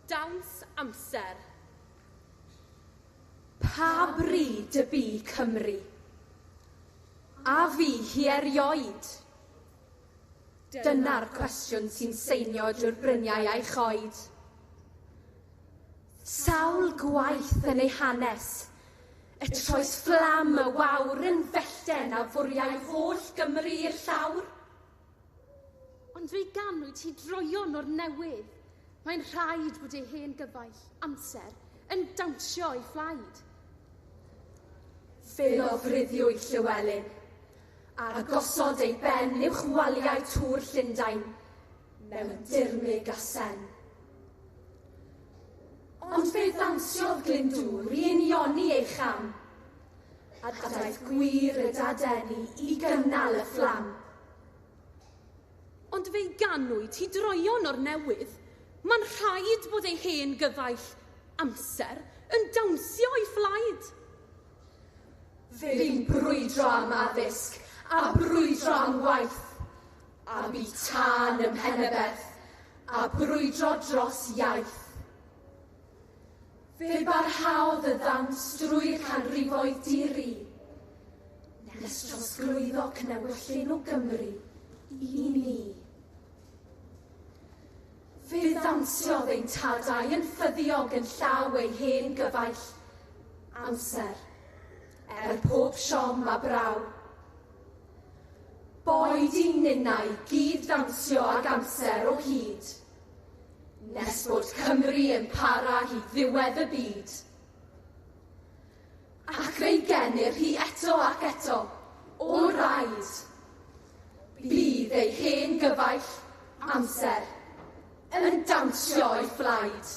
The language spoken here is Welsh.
Dawns amser. Pa bryd y bu Cymru? A fu hi erioed? Dyna'r cwestiwn sy'n seinio drwy'r bryniau a'i choed. Sawl gwaith yn ei hanes y troes fflam y wawr yn fellten a fwriai holl Gymru i'r llawr? Ond fe ganwyd hi droeon o'r newydd. Mae'n rhaid bod ei hen gyfaill, amser, yn dawnsio ei phlaid. Fe lofruddiwyd Llywelyn, a gosod ei ben uwch waliau Tŵr Llundain, mewn dirmyg a sen. Ond fe ddansiodd Glyndŵr i unioni ei cham. a daeth gwir y dadeni i gynnal y fflam. Ond fe'i ganwyd hi droion o'r newydd. Mae'n rhaid bod ei hen gyfaill, amser, yn dawnsio o'i phlaid. Fe'i'n brwydro am addysg, a brwydro am waith, a bu tân ym Mhenyberth, a brwydro dros iaith. Fe barhaodd y ddawns drwy'r canrifoedd di-ri, nes trosglwyddo cnewyllyn o Gymru i ni. Fe ddawnsiodd ein tadau yn ffyddiog yn llaw ei hen gyfaill, amser, er pob siom a braw. Boed i'n ninnau gyd-ddawnsio ag amser o hyd, nes bod Cymru yn para i ddiwedd y byd. Ac fe genir hi eto ac eto, o raid. Bydd ei hen gyfaill, amser, yn dawnsio o'i phlaid.